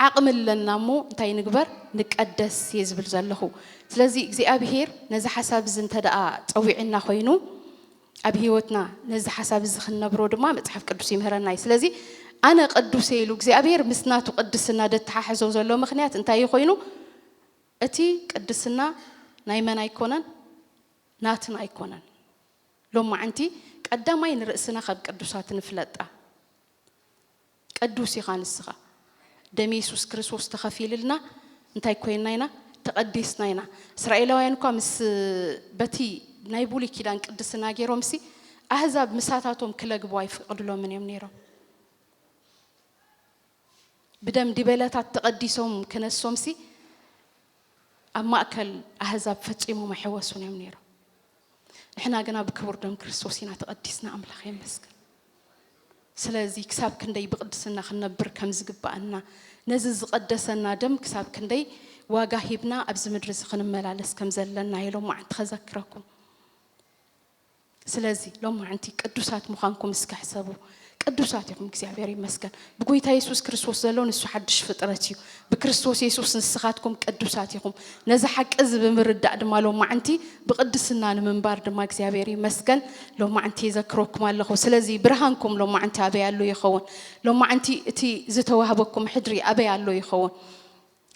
ዓቕሚ ኣለና እሞ እንታይ ንግበር ንቀደስ እየ ዝብል ዘለኹ። ስለዚ እግዚኣብሄር ነዚ ሓሳብ እዚ እንተደኣ ጸዊዕና ኮይኑ ኣብ ህይወትና ነዚ ሓሳብ እዚ ክንነብሮ ድማ መጽሓፍ ቅዱስ ይምህረና እዩ። ስለዚ ኣነ ቅዱስ እየ ኢሉ እግዚኣብሄር ምስ ናቱ ቅድስና ደተሓሕዞ ዘሎ ምኽንያት እንታይ እዩ ኮይኑ? እቲ ቅድስና ናይ መን ኣይኮነን ናትና ኣይኮነን ሎማዕንቲ ቀዳማይ ንርእስና ከብ ቅዱሳት ንፍለጣ ቅዱስ ኢኻ ንስኻ ደም የሱስ ክርስቶስ ተኸፊልልና እንታይ ኮይና ኢና ተቐዲስና ኢና እስራኤላውያን እኳ ምስ በቲ ናይ ብሉይ ኪዳን ቅድስና ገይሮምሲ ኣህዛብ ምሳታቶም ክለግቡ ኣይፍቅድሎምን እዮም ነይሮም ብደም ዲበለታት ተቐዲሶም ክነሶምሲ ኣብ ማእከል ኣህዛብ ፈጺሞም ኣይሕወሱን እዮም ነይሮም። ንሕና ግና ብክቡር ደም ክርስቶስ ኢና ተቐዲስና፣ ኣምላኽ የመስግን። ስለዚ ክሳብ ክንደይ ብቕድስና ክንነብር ከም ዝግብኣና፣ ነዚ ዝቐደሰና ደም ክሳብ ክንደይ ዋጋ ሂብና ኣብዚ ምድሪ እዚ ክንመላለስ ከም ዘለና እየ ሎማዕንቲ ከዘክረኩም። ስለዚ ሎማዕንቲ ቅዱሳት ምዃንኩም እስከ ሕሰቡ። ቅዱሳት ኢኹም እግዚኣብሔር ይመስገን። ብጎይታ የሱስ ክርስቶስ ዘሎ ንሱ ሓድሽ ፍጥረት እዩ። ብክርስቶስ የሱስ ንስኻትኩም ቅዱሳት ኢኹም። ነዚ ሓቂ እዚ ብምርዳእ ድማ ሎማዕንቲ ብቅድስና ንምንባር ድማ እግዚኣብሔር ይመስገን ሎማዕንቲ የዘክረኩም ኣለኹ። ስለዚ ብርሃንኩም ሎማዕንቲ ኣበይ ኣሎ ይኸውን? ሎማዕንቲ እቲ ዝተዋህበኩም ሕድሪ ኣበይ ኣሎ ይኸውን?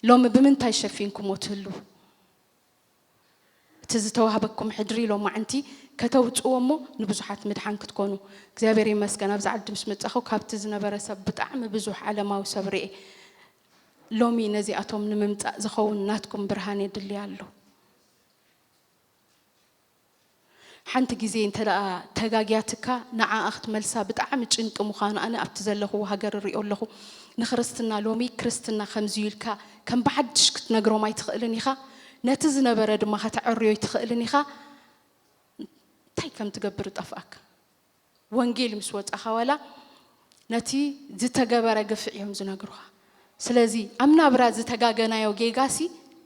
ሎሚ ብምንታይ ሸፊንኩሞ ትህልዉ? እቲ ዝተዋህበኩም ሕድሪ ሎማዕንቲ ከተውጽዎ እሞ ንብዙሓት ምድሓን ክትኮኑ። እግዚኣብሔር ይመስገን ኣብዚ ዓዲ ምስ መጻኹ ካብቲ ዝነበረ ሰብ ብጣዕሚ ብዙሕ ዓለማዊ ሰብ ሪኤ ሎሚ ነዚኣቶም ንምምጻእ ዝኸውን ናትኩም ብርሃን የድሊ ኣሎ። ሓንቲ ግዜ እንተ ተጋግያትካ ንዓኣ ክትመልሳ ብጣዕሚ ጭንቂ ምዃኑ ኣነ ኣብቲ ዘለኹዎ ሃገር እሪኦ ኣለኹ። ንክርስትና ሎሚ ክርስትና ከምዚዩ ኢልካ ከም ብሓድሽ ክትነግሮም ኣይትኽእልን ኢኻ። ነቲ ዝነበረ ድማ ከተዐርዮ ኣይትኽእልን ኢኻ። እንታይ ከምትገብር እጠፍኣካ። ወንጌል ምስ ወጻኻ ዋላ ነቲ ዝተገበረ ግፍዒ እዮም ዝነግሩኻ። ስለዚ ኣብ ናብራ ዝተጋገናዮ ጌጋሲ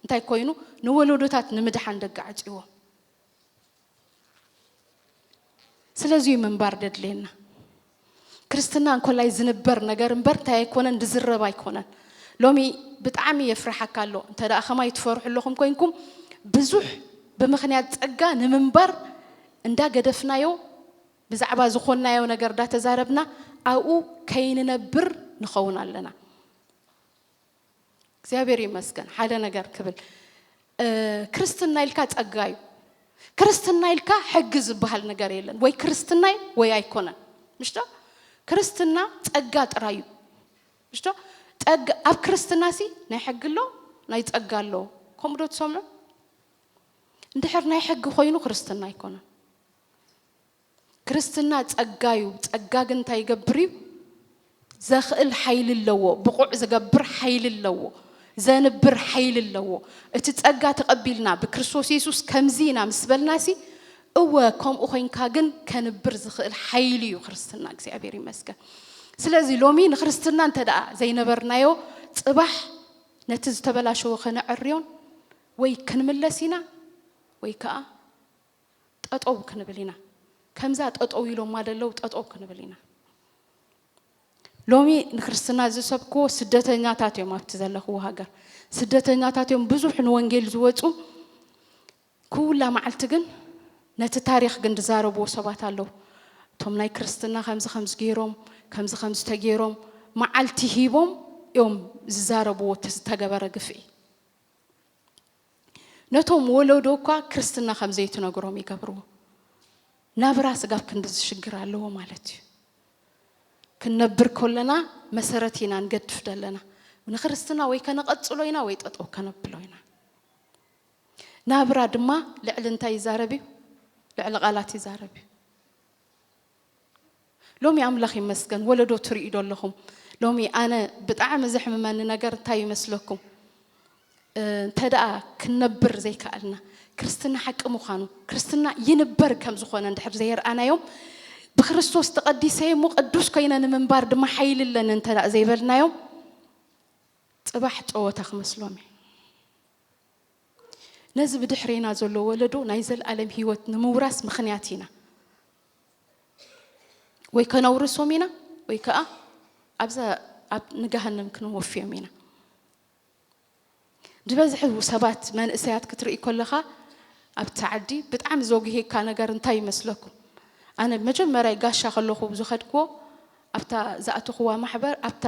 እንታይ ኮይኑ ንወለዶታት ንምድሓን ደጋዕጽዎ። ስለዚ እዩ ምንባር ደድልየና። ክርስትና እንኮላይ ዝንበር ነገር እምበር እንታይ ኣይኮነን ዝዝረብ ኣይኮነን። ሎሚ ብጣዕሚ የፍርሓካ ኣሎ እንተ ከማይ ትፈርሑ ኣለኹም ኮንኩም ብዙሕ ብምክንያት ጸጋ ንምንባር እንዳገደፍናዮ ብዛዕባ ዝኾንናዮ ነገር ዳተዛረብና ኣብኡ ከይንነብር ንኸውን ኣለና። እግዚኣብሔር ይመስገን ሓደ ነገር ክብል ክርስትና ኢልካ ጸጋ እዩ። ክርስትና ኢልካ ሕጊ ዝበሃል ነገር የለን። ወይ ክርስትናይ ወይ ኣይኮነን ምሽዶ ክርስትና ጸጋ ጥራይ እዩ ምሽዶ ጸጋ ኣብ ክርስትና ሲ ናይ ሕጊ ኣሎ ናይ ጸጋ ኣሎ ከምኡ ዶ ትሰምዑ እንድሕር ናይ ሕጊ ኮይኑ ክርስትና ኣይኮነን። ክርስትና ጸጋ እዩ። ጸጋ ግን እንታይ ይገብር እዩ? ዘኽእል ሓይሊ ኣለዎ፣ ብቑዕ ዝገብር ሓይሊ ኣለዎ፣ ዘንብር ሓይሊ ኣለዎ። እቲ ጸጋ ተቐቢልና ብክርስቶስ የሱስ ከምዚ ኢና ምስ በልናሲ እወ ከምኡ ኮይንካ ግን ከንብር ዝኽእል ሓይሊ እዩ ክርስትና። እግዚኣብሔር ይመስገን። ስለዚ ሎሚ ንክርስትና እንተ ደኣ ዘይነበርናዮ ጽባሕ ነቲ ዝተበላሸወ ከነዕርዮን ወይ ክንምለስ ኢና ወይ ከኣ ጠጠው ክንብል ኢና ከምዛ ጠጠው ኢሎማ ደለው ጠጠው ክንብል ኢና ሎሚ ንክርስትና ዝሰብክዎ ስደተኛታት እዮም ኣብቲ ዘለኽዎ ሃገር ስደተኛታት እዮም ብዙሕ ንወንጌል ዝወፁ ኩላ መዓልቲ ግን ነቲ ታሪክ ግን ዝዛረብዎ ሰባት ኣለው እቶም ናይ ክርስትና ከምዚ ከምዚ ገይሮም ከምዚ ከምዚ ተገይሮም መዓልቲ ሂቦም እዮም ዝዛረብዎ ዝተገበረ ግፍዒ ነቶም ወለዶ እኳ ክርስትና ከም ዘይትነግሮም ይገብርዎ። ናብራ ስጋብ ክንዲ ዝሽግር ኣለዎ ማለት እዩ። ክንነብር ከለና መሰረት ኢና ንገድፍ ዘለና ንክርስትና ወይ ከነቐጽሎ ኢና ወይ ጠጠው ከነብሎ ኢና። ናብራ ድማ ልዕሊ እንታይ ይዛረብ እዩ? ልዕሊ ቃላት ይዛረብ እዩ። ሎሚ ኣምላኽ ይመስገን ወለዶ ትርእዩ ዶ ኣለኹም ሎሚ ኣነ ብጣዕሚ ዘሕምመኒ ነገር እንታይ ይመስለኩም እንተደኣ ክንነብር ዘይከኣልና ክርስትና ሓቂ ምዃኑ ክርስትና ይንበር ከም ዝኾነ እንድሕር ዘየርኣናዮም ብክርስቶስ ተቐዲሰ እሞ ቅዱስ ኮይነ ንምንባር ድማ ሓይሊ ኣለኒ እንተ ዘይበልናዮም ፅባሕ ፀወታ ክመስሎም እዩ ነዚ ብድሕሬና ዘሎ ወለዶ ናይ ዘልኣለም ህይወት ንምውራስ ምኽንያት ኢና። ወይ ከነውርሶም ኢና ወይ ከኣ ኣብዛ ኣብ ንገሃነም ክንወፍዮም ኢና። ዝበዝሕ ሰባት መንእሰያት ክትርኢ ከለኻ ኣብቲ ዓዲ ብጣዕሚ ዘጉህየካ ነገር እንታይ ይመስለኩም? ኣነ መጀመርያ ጋሻ ከለኹ ዝኸድክዎ ኣብታ ዝኣተኽዋ ማሕበር ኣብታ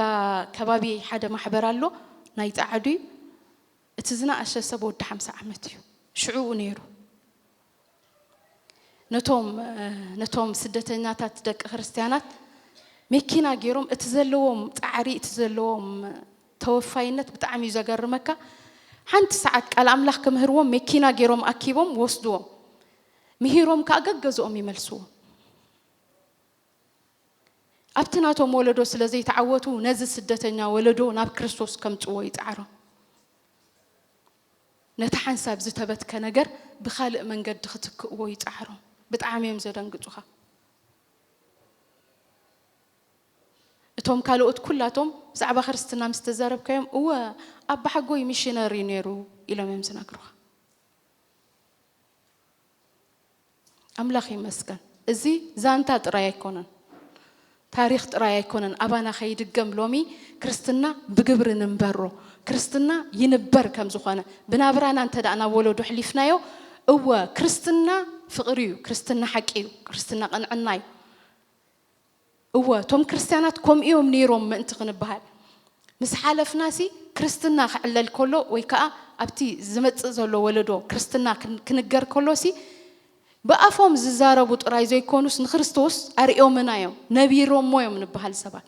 ከባቢ ሓደ ማሕበር ኣሎ ናይ ጸዓዱ እዩ። እቲ ዝነኣሸ ሰብ ወዲ ሓምሳ ዓመት እዩ ሽዑኡ ነይሩ ነቶም ነቶም ስደተኛታት ደቂ ክርስትያናት መኪና ገይሮም እቲ ዘለዎም ፃዕሪ እቲ ዘለዎም ተወፋይነት ብጣዕሚ እዩ ዘገርመካ ሓንቲ ሰዓት ቃል ኣምላኽ ክምህርዎም መኪና ገይሮም ኣኪቦም ወስድዎም ምሂሮም ከዓ ገገዝኦም ይመልስዎ ኣብቲ ናቶም ወለዶ ስለ ዘይተዓወቱ ነዚ ስደተኛ ወለዶ ናብ ክርስቶስ ከምጽዎ ይጽዓሮም። ነቲ ሓንሳብ ዝተበትከ ነገር ብኻልእ መንገዲ ክትክእዎ ይጽዓሮም። ብጣዕሚ እዮም ዘደንግጹኻ። እቶም ካልኦት ኩላቶም ብዛዕባ ክርስትና ምስ ተዛረብካዮም እወ ኣባሓጎይ ሚሽነር እዩ ነይሩ ኢሎም እዮም ዝነግሩኻ። ኣምላኽ ይመስገን እዚ ዛንታ ጥራይ ኣይኮነን ታሪኽ ጥራይ ኣይኮነን ኣባና ከይድገም ሎሚ ክርስትና ብግብሪ ንንበሮ ክርስትና ይንበር ከም ዝኾነ ብናብራና እንተ ናብ ወለዶ ኣሕሊፍናዮ እወ ክርስትና ፍቕሪ እዩ ክርስትና ሓቂ እዩ ክርስትና ቅንዕና እዩ እወ እቶም ክርስትያናት ከምኡ እዮም ነይሮም ምእንቲ ክንበሃል ምስ ሓለፍናሲ ክርስትና ክዕለል ከሎ ወይ ከኣ ኣብቲ ዝመጽእ ዘሎ ወለዶ ክርስትና ክንገር ከሎሲ ብኣፎም ዝዛረቡ ጥራይ ዘይኮኑስ ንክርስቶስ ኣርእዮምና እዮም ነቢሮሞ እዮም ንበሃል ሰባት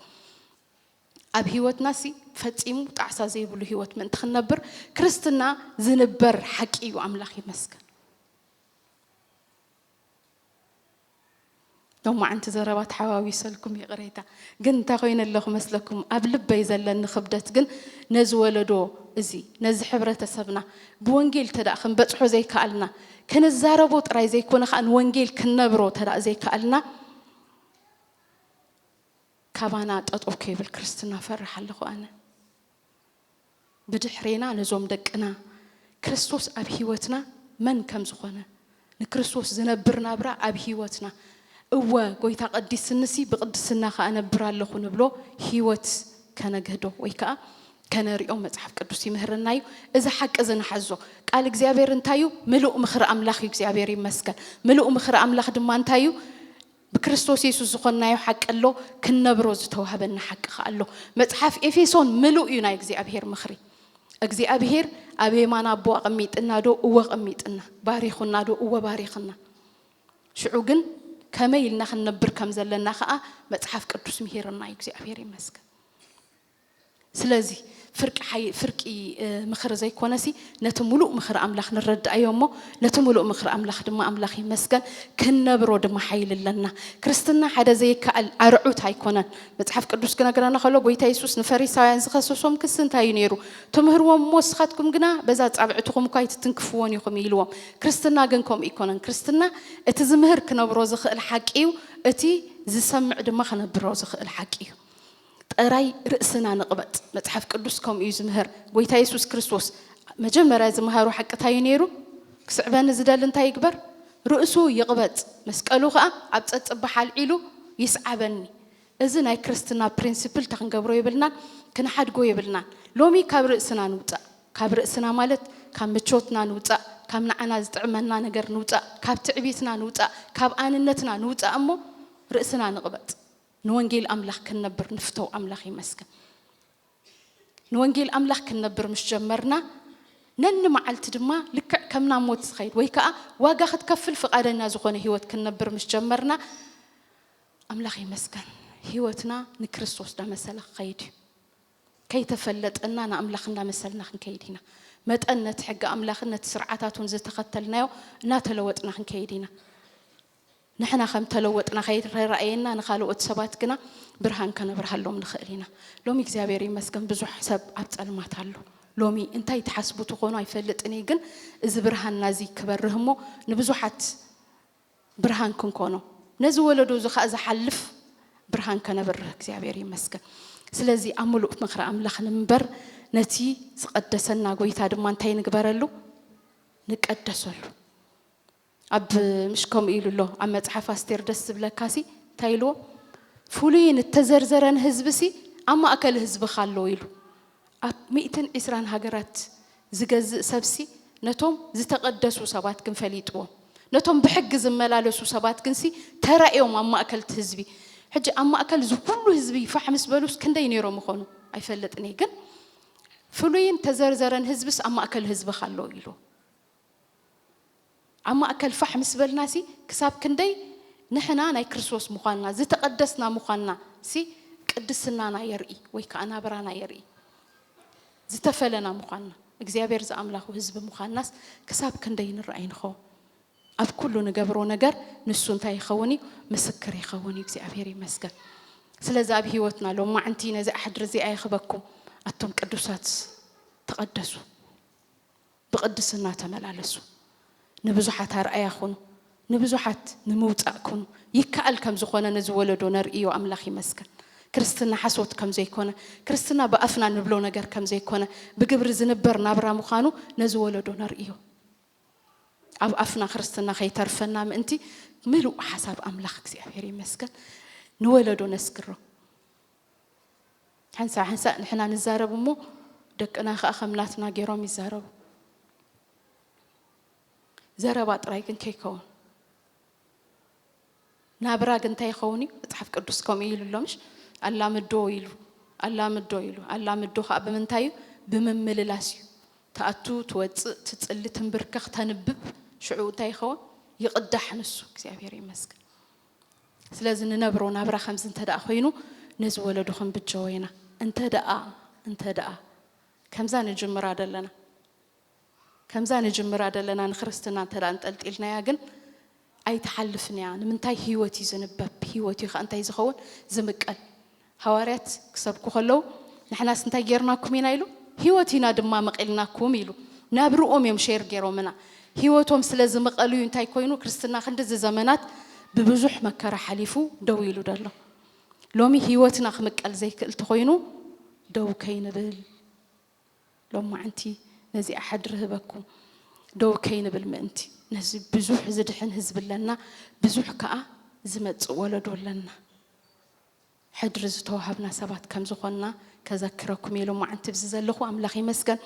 ኣብ ህይወትናሲ ፈጺሙ ጣዕሳ ዘይብሉ ህይወት ምእንቲ ክንነብር ክርስትና ዝንበር ሓቂ እዩ ኣምላኽ ይመስገን ሎማዕንቲ ዘረባ ተሓዋዊሰልኩም ይቕሬታ። ግን እንታይ ኮይነ ኣለኹ መስለኩም? ኣብ ልበይ ዘለኒ ክብደት ግን ነዚ ወለዶ እዚ ነዚ ሕብረተሰብና ብወንጌል ተደኣ ክንበጽሖ ዘይከኣልና ከነዛረቦ ጥራይ ዘይኮነ ከኣ ንወንጌል ክንነብሮ ተደኣ ዘይከኣልና ካባና ጠጠው ከይብል ክርስትና ፈርሕ ኣለኹ ኣነ። ብድሕሬና ነዞም ደቅና ክርስቶስ ኣብ ሕይወትና መን ከም ዝኾነ ንክርስቶስ ዝነብር ናብራ ኣብ ሕይወትና እወ ጐይታ ቀዲስንሲ ብቅድስና ከኣ እነብር ኣለኹ ንብሎ ሕይወት ከነግህዶ ወይ ከኣ ከነርኦ መጽሓፍ ቅዱስ ይምህረና እዩ እዚ ሓቂ እዚ ንሓዞ ቃል እግዚኣብሔር እንታይ እዩ ምሉእ ምኽሪ ኣምላኽ እዩ እግዚኣብሔር ይመስገን ምሉእ ምኽሪ ኣምላኽ ድማ እንታይ እዩ ብክርስቶስ የሱስ ዝዀንናዮ ሓቂ ኣሎ፣ ክንነብሮ ዝተዋህበና ሓቂ ኸኣ ኣሎ። መጽሓፍ ኤፌሶን ምሉእ እዩ ናይ እግዚኣብሄር ምኽሪ። እግዚኣብሄር ኣብ የማን ኣቦ ኣቐሚጥናዶ? እወ ኣቐሚጥና። ባሪኹናዶ? እወ ባሪኽና። ሽዑ ግን ከመይ ኢልና ክንነብር ከም ዘለና ኸኣ መጽሓፍ ቅዱስ ምሂርና እዩ። እግዚኣብሄር ይመስገን። ስለዚ ፍርቂ ሓይ ፍርቂ ምኽሪ ዘይኮነሲ ነቲ ምሉእ ምኽሪ ኣምላኽ ንረዳኣዮ እሞ ነቲ ምሉእ ምኽሪ ኣምላኽ ድማ ኣምላኽ ይመስገን ክንነብሮ ድማ ሓይሊ ኣለና። ክርስትና ሓደ ዘይከኣል ኣርዑት ኣይኮነን። መጽሓፍ ቅዱስ ክነግረና ከሎ ጎይታ የሱስ ንፈሪሳውያን ዝኸሰሶም ክሲ እንታይ እዩ ነይሩ? ትምህርዎም እሞ ንስኻትኩም ግና በዛ ኣጻብዕትኹም እኳ ኣይትትንክፍዎን ኢኹም ኢልዎም። ክርስትና ግን ከምኡ ኣይኮነን። ክርስትና እቲ ዝምህር ክነብሮ ዝኽእል ሓቂ እዩ፣ እቲ ዝሰምዕ ድማ ክነብሮ ዝኽእል ሓቂ እዩ። ጠራይ ርእስና ንቅበጽ መጽሓፍ ቅዱስ ከምኡ እዩ ዝምህር ጎይታ የሱስ ክርስቶስ መጀመርያ ዝመሃሮ ሓቂ ታይ እዩ ነይሩ ክስዕበኒ ዝደሊ እንታይ ይግበር ርእሱ ይቅበጽ መስቀሉ ከኣ ኣብ ጸጽባሕ ኣልዒሉ ይስዓበኒ እዚ ናይ ክርስትና ፕሪንስፕል ተክንገብሮ የብልናን ክንሓድጎ የብልናን ሎሚ ካብ ርእስና ንውጻእ ካብ ርእስና ማለት ካብ ምቾትና ንውጻእ ካብ ንዓና ዝጥዕመና ነገር ንውጻእ ካብ ትዕቢትና ንውጻእ ካብ ኣንነትና ንውጻእ እሞ ርእስና ንቅበጽ ንወንጌል ኣምላኽ ክንነብር ንፍተው ኣምላኽ ይመስገን ንወንጌል ኣምላኽ ክንነብር ምስ ጀመርና ነንመዓልቲ ድማ ልክዕ ከም ናብ ሞት ዝኸይድ ወይ ከዓ ዋጋ ክትከፍል ፍቓደኛ ዝኾነ ህይወት ክንነብር ምስ ጀመርና ኣምላኽ ይመስገን ህይወትና ንክርስቶስ ዳመሰለ ክኸይድ እዩ ከይተፈለጠና ንኣምላኽ እንዳመሰልና ክንከይድ ኢና መጠን ነቲ ሕጊ ኣምላኽን ነቲ ስርዓታቱን ዝተኸተልናዮ እናተለወጥና ክንከይድ ኢና ንሕና ከም እተለወጥና ከይተራእየና ንኻልኦት ሰባት ግና ብርሃን ከነብርሃሎም ንኽእል ኢና። ሎሚ እግዚኣብሔር ይመስገን ብዙሕ ሰብ ኣብ ጸልማት ኣሎ። ሎሚ እንታይ ትሓስቡ ትኾኑ ኣይፈልጥን እየ ግን እዚ ብርሃንና እዚ ክበርህ እሞ ንብዙሓት ብርሃን ክንኮኖ ነዚ ወለዶ እዚ ኸኣ ዝሓልፍ ብርሃን ከነብርህ እግዚኣብሔር ይመስገን። ስለዚ ኣብ ምሉእ ምኽሪ ኣምላኽ ንምበር ነቲ ዝቐደሰና ጎይታ ድማ እንታይ ንግበረሉ ንቀደሰሉ። ኣብ ምሽ ከምኡ ኢሉ ኣሎ ኣብ መጽሓፍ ኣስቴር ደስ ዝብለካሲ እንታይ ኢልዎ ፍሉይን እተዘርዘረን ህዝብሲ ኣብ ማእከል ህዝብኻ ኣሎ ኢሉ ኣብ ሚእትን ዕስራን ሃገራት ዝገዝእ ሰብሲ ነቶም ዝተቐደሱ ሰባት ግን ፈሊጥዎም ነቶም ብሕጊ ዝመላለሱ ሰባት ግንሲ ተራእዮም ኣብ ማእከልቲ ህዝቢ ሕጂ ኣብ ማእከል እዚ ኩሉ ህዝቢ ፋሕ ምስ በሉስ ክንደይ ነይሮም ይኾኑ ኣይፈልጥን እየ ግን ፍሉይን ተዘርዘረን ህዝብስ ኣብ ማእከል ህዝብኻ ኣሎ ኢሉ ኣብ ማእከል ፋሕ ምስ በልናሲ ክሳብ ክንደይ ንሕና ናይ ክርስቶስ ምዃንና፣ ዝተቐደስና ምዃንናሲ ቅድስናና የርኢ ወይ ከኣ ናብራና የርኢ። ዝተፈለና ምዃንና፣ እግዚኣብሔር ዝኣምላኹ ህዝቢ ምዃንናስ ክሳብ ክንደይ ንረኣይ ንኸውን። ኣብ ኩሉ ንገብሮ ነገር ንሱ እንታይ ይኸውን እዩ? ምስክር ይኸውን እዩ። እግዚኣብሔር ይመስገን። ስለዚ ኣብ ህይወትና ሎማዕንቲ ነዚ ኣሕድሪ እዚኣ ይኽበኩም ኣቱም ቅዱሳት ተቐደሱ። ብቕድስና ተመላለሱ፣ ንብዙሓት ኣርኣያ ኩኑ፣ ንብዙሓት ንምውጻእ ኩኑ፣ ይከኣል ከም ዝኾነ ነዚ ወለዶ ነርእዮ ኣምላኽ ይመስገን። ክርስትና ሓሶት ከም ዘይኮነ፣ ክርስትና ብኣፍና ንብሎ ነገር ከም ዘይኮነ፣ ብግብሪ ዝንበር ናብራ ምዃኑ ነዚ ወለዶ ነርእዮ። ኣብ ኣፍና ክርስትና ከይተርፈና ምእንቲ ምሉእ ሓሳብ ኣምላኽ እግዚኣብሔር ይመስገን ንወለዶ ነስግሮ። ሓንሳእ ሓንሳእ ንሕና ንዛረብ እሞ ደቅና ከኣ ከም ናትና ገይሮም ይዛረቡ። ዘረባ ጥራይ ግን ከይከውን ናብራ ግን እንታይ ይኸውን እዩ? መጽሓፍ ቅዱስ ከምኡ ኢሉ ኣሎ ምሽ ኣላምዶ ኢሉ ኣላምዶ ኢሉ ኣላምዶ ከዓ ብምንታይ እዩ? ብምምልላስ እዩ። ተኣቱ ትወፅእ ትፅሊ ትንብርከኽ ተንብብ ሽዑ እንታይ ይኸውን? ይቕዳሕ ንሱ። እግዚኣብሔር ይመስገን። ስለዚ ንነብሮ ናብራ ከምዚ እንተደኣ ኮይኑ ነዚ ወለዶ ክንብጀዎ ኢና እንተደኣ እንተደኣ ከምዛ ንጅምራ ደለና ከምዛ ንጅምራ ደለና ንክርስትና እንተ እንጠልጢልናያ ግን ኣይትሓልፍን እያ ንምንታይ ህይወት እዩ ዝንበብ ህይወት እዩ ከ እንታይ ዝኸውን ዝምቀል ሃዋርያት ክሰብኩ ከለዉ ንሕናስ እንታይ ጌርናኩም ኢና ኢሉ ህይወት ኢና ድማ መቒልናኩም ኢሉ ናብርኦም እዮም ሼር ጌሮምና ህይወቶም ስለ ዝመቐሉ እዩ እንታይ ኮይኑ ክርስትና ክንድዚ ዘመናት ብብዙሕ መከራ ሓሊፉ ደው ኢሉ ደሎ ሎሚ ህይወትና ክምቀል ዘይክእል ተኾይኑ ደው ከይንብል ሎማዓንቲ ነዚኣ ሓድሪ ህበኩም ደው ከይንብል ምእንቲ ነዚ ብዙሕ ዝድሕን ህዝቢ ኣለና ብዙሕ ከዓ ዝመፅእ ወለዶ ኣለና ሕድሪ ዝተዋሃብና ሰባት ከም ዝኾንና ከዘክረኩም እየ ሎማዓንቲ ብዚ ዘለኹ ኣምላኽ ይመስገን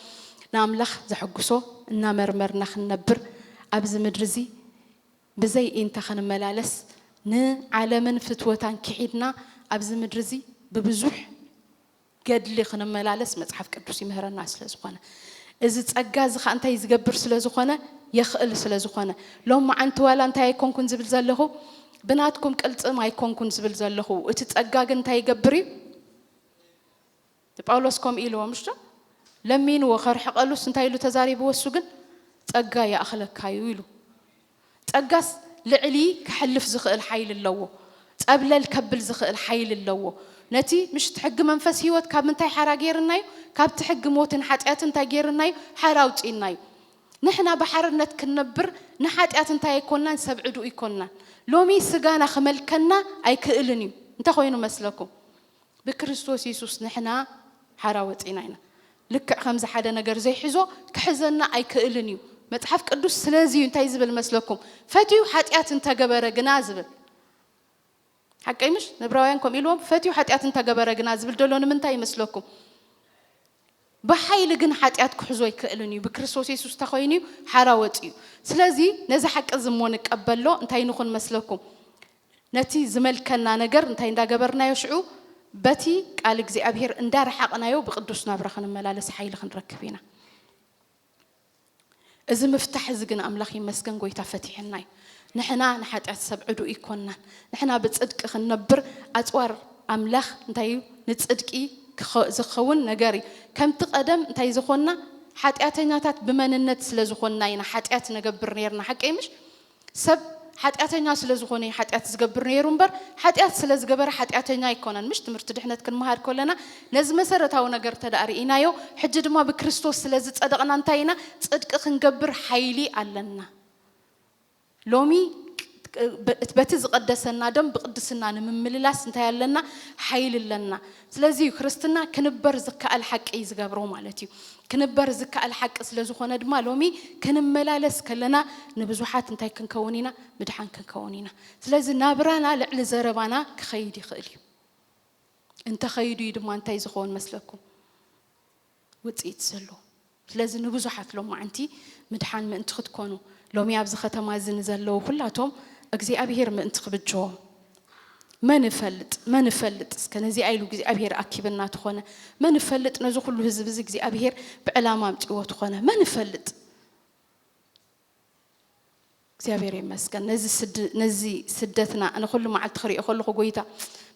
ንኣምላኽ ዘሕጉሶ እናመርመርና ክንነብር ኣብዚ ምድሪ እዚ ብዘይ ኢንተ ክንመላለስ ንዓለምን ፍትወታን ኪሒድና ኣብዚ ምድሪ እዚ ብብዙሕ ገድሊ ክንመላለስ መጽሓፍ ቅዱስ ይምህረና ስለ ዝኾነ እዚ ጸጋ እዚ ኸኣ እንታይ ዝገብር ስለ ዝኾነ የኽእል ስለ ዝኾነ ሎማዓንቲ ዋላ እንታይ ኣይኮንኩን ዝብል ዘለኹ ብናትኩም ቅልጽም ኣይኮንኩን ዝብል ዘለኹ እቲ ጸጋ ግን እንታይ ይገብር እዩ ጳውሎስ ከምኡ ኢልዎ ምሽ ዶ ለሚንዎ ከርሕቀሉስ እንታይ ኢሉ ተዛሪብዎ እሱ ግን ጸጋ ይኣኽለካ እዩ ኢሉ ጸጋስ ልዕሊ ከሕልፍ ዝኽእል ሓይሊ ኣለዎ። ጸብለል ከብል ዝኽእል ሓይሊ ኣለዎ። ነቲ ምሽት ሕጊ መንፈስ ህይወት ካብ ምንታይ ሓራ ገይርና እዩ? ካብቲ ሕጊ ሞትን ሓጢኣትን እንታይ ገይርና እዩ? ሓራ ኣውጺእና እዩ። ንሕና ብሓርነት ክንነብር ንሓጢኣት እንታይ ኣይኮንናን ሰብ ዕዱእ ኣይኮንናን። ሎሚ ስጋና ክመልከና ኣይክእልን እዩ። እንታይ ኮይኑ መስለኩም? ብክርስቶስ የሱስ ንሕና ሓራ ወጺእና ኢና። ልክዕ ከምዚ ሓደ ነገር ዘይሕዞ ክሕዘና ኣይክእልን እዩ። መጽሓፍ ቅዱስ ስለዚ እዩ እንታይ ዝብል መስለኩም ፈትዩ ሓጢኣት እንተገበረ ግና ዝብል ሓቀይ ምሽ ንብራውያን ከምኡ ኢልዎም ፈትዩ ሓጢኣት እንተገበረ ግና ዝብል ደሎ ንምንታይ ይመስለኩም? ብሓይሊ ግን ሓጢኣት ክሕዞ ኣይክእልን እዩ፣ ብክርስቶስ የሱስ ተኾይኑ እዩ ሓራ ወጺኡ። ስለዚ ነዚ ሓቂ እዚ እሞ ንቀበሎ፣ እንታይ ንኹን መስለኩም? ነቲ ዝመልከና ነገር እንታይ እንዳ ገበርናዮ ሽዑ በቲ ቃል እግዚኣብሄር እንዳ ረሓቕናዮ ብቅዱስ ናብራ ክንመላለስ ሓይሊ ክንረክብ ኢና። እዚ ምፍታሕ እዚ ግን ኣምላኽ ይመስገን ጎይታ ፈቲሕልና እዩ ንሕና ንሓጢኣት ሰብ ዕዱ እይኮናን ንሕና ብጽድቂ ክንነብር ኣጽዋር ኣምላኽ እንታይ እዩ ንጽድቂ ዝከውን ነገር እዩ ከምቲ ቀደም እንታይ ዝኾንና ሓጢኣተኛታት ብመንነት ስለ ዝኾንና ኢና ሓጢኣት ነገብር ነርና ሓቀይ ምሽ ሰብ ሓጢኣተኛ ስለ ዝኾነ እዩ ሓጢኣት ዝገብር ነይሩ እምበር ሓጢኣት ስለ ዝገበረ ሓጢኣተኛ ኣይኮነን። ምሽ ትምህርቲ ድሕነት ክንመሃር ከለና ነዚ መሰረታዊ ነገር እንተድኣ ርኢናዮ ሕጂ ድማ ብክርስቶስ ስለ ዝጸደቕና እንታይ ኢና ጽድቂ ክንገብር ሓይሊ ኣለና። ሎሚ በቲ ዝቐደሰና ደም ብቕድስና ንምምልላስ እንታይ ኣለና ሓይሊ ኣለና። ስለዚ እዩ ክርስትና ክንበር ዝከኣል ሓቂ እዩ ዝገብሮ ማለት እዩ። ክንበር ዝከኣል ሓቂ ስለ ዝኾነ ድማ ሎሚ ክንመላለስ ከለና ንብዙሓት እንታይ ክንከውን ኢና? ምድሓን ክንከውን ኢና። ስለዚ ናብራና ልዕሊ ዘረባና ክኸይድ ይኽእል እዩ። እንተኸይዱ እዩ ድማ እንታይ ዝኸውን መስለኩም? ውጽኢት ዘሎ። ስለዚ ንብዙሓት ሎማዕንቲ ምድሓን ምእንቲ ክትኮኑ፣ ሎሚ ኣብዚ ኸተማ እዚ ንዘለዉ ኹላቶም እግዚኣብሄር ምእንቲ ክብጅዎም፣ መን እፈልጥ መን እፈልጥ እስከ ነዚኣ ኢሉ እግዚኣብሄር ኣኪብና ተኾነ፣ መን እፈልጥ ነዚ ኹሉ ህዝቢ እዚ እግዚኣብሄር ብዕላማ ኣምጺእዎ ተኾነ፣ መን እፈልጥ? እግዚኣብሔር ይመስገን ነዚ ስድ ነዚ ስደትና ኣነ ኩሉ መዓልቲ ክሪኦ ከለኹ ጎይታ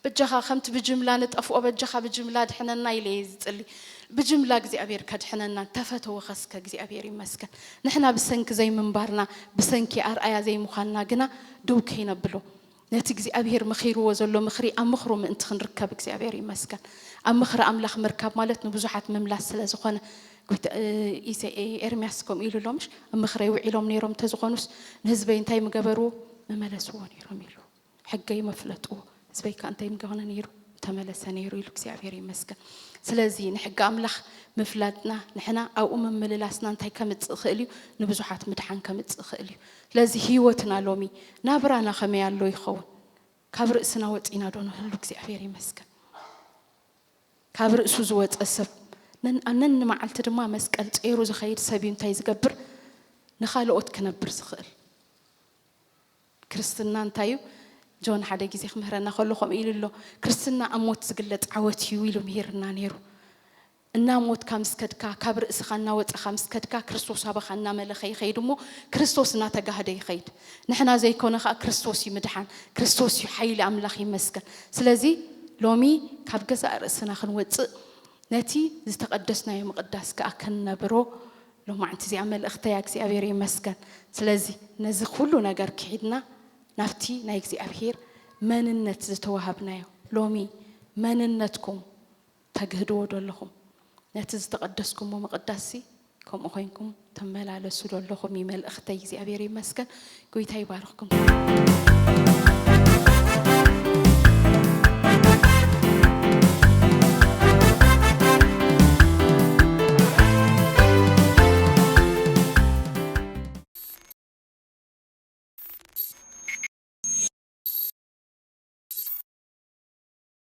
በጃኻ ከምቲ ብጅምላ ንጠፍኦ በጃኻ ብጅምላ ድሕነና ኢለ እየ ዝጽሊ ብጅምላ እግዚኣብሔር ከድሕነና ተፈተወ ከስከ እግዚኣብሔር ይመስገን ንሕና ብሰንኪ ዘይምንባርና ብሰንኪ ኣርኣያ ዘይምዃንና ግና ደው ከይነብሎ ነቲ እግዚኣብሄር መኺርዎ ዘሎ ምኽሪ ኣብ ምኽሩ ምእንቲ ክንርከብ እግዚኣብሄር ይመስገን። ኣብ ምኽሪ ኣምላኽ ምርካብ ማለት ንብዙሓት ምምላስ ስለ ዝኾነ ጎይታ ኢሰ ኤርምያስ ከምኡ ኢሉ ኣሎ ምሽ ኣብ ምኽረይ ውዒሎም ነይሮም እንተዝኾኑስ ንህዝበይ እንታይ ምገበርዎ ምመለስዎ ነይሮም ኢሉ ሕገይ መፍለጥዎ ህዝበይ ከ እንታይ ምገነ ነይሩ ተመለሰ ነይሩ ኢሉ እግዚኣብሄር ይመስገን። ስለዚ ንሕጊ ኣምላኽ ምፍላጥና ንሕና ኣብኡ ምምልላስና እንታይ ከምጽእ ይኽእል እዩ ንብዙሓት ምድሓን ከምጽእ ይኽእል እዩ። ስለዚ ህይወትና ሎሚ ናብራና ከመይ ኣሎ ይኸውን? ካብ ርእስና ወጺእና ዶ ንህሉ? እግዚኣብሔር ይመስገን ካብ ርእሱ ዝወጸ ሰብ ነንመዓልቲ ድማ መስቀል ጸይሩ ዝኸይድ ሰብ እዩ እንታይ ዝገብር ንኻልኦት ክነብር ዝኽእል ክርስትና እንታይ እዩ ጆን ሓደ ግዜ ክምህረና ከሎ ከምኡ ኢሉ ኣሎ ክርስትና ኣብ ሞት ዝግለጽ ዓወት እዩ ኢሉ ምሂርና ነይሩ እናሞትካ ምስ ከድካ፣ ካብ ርእስኻ እናወጸኻ ምስ ከድካ፣ ክርስቶስ ኣባኻ እናመለኸ ይኸይድ እሞ ክርስቶስ እናተጋህደ ይኸይድ። ንሕና ዘይኮነ ከኣ ክርስቶስ እዩ ምድሓን፣ ክርስቶስ እዩ ሓይሊ ኣምላኽ ይመስገን። ስለዚ ሎሚ ካብ ገዛእ ርእስና ክንወጽእ ነቲ ዝተቐደስናዮ ምቕዳስ ከኣ ክንነብሮ ሎማዕንቲ እዚኣ መልእኽተይ እያ። እግዚኣብሔር ይመስገን። ስለዚ ነዚ ኩሉ ነገር ክሒድና ናብቲ ናይ እግዚኣብሔር መንነት ዝተዋሃብናዮ ሎሚ መንነትኩም ተግህድዎ ዶ ኣለኹም? ነቲ ዝተቐደስኩሞ ምቕዳስሲ ከምኡ ኮይንኩም ትመላለሱ ዶ ኣለኹም እዩ መልእኽተይ። እግዚኣብሔር ይመስገን። ጎይታ ይባርኽኩም።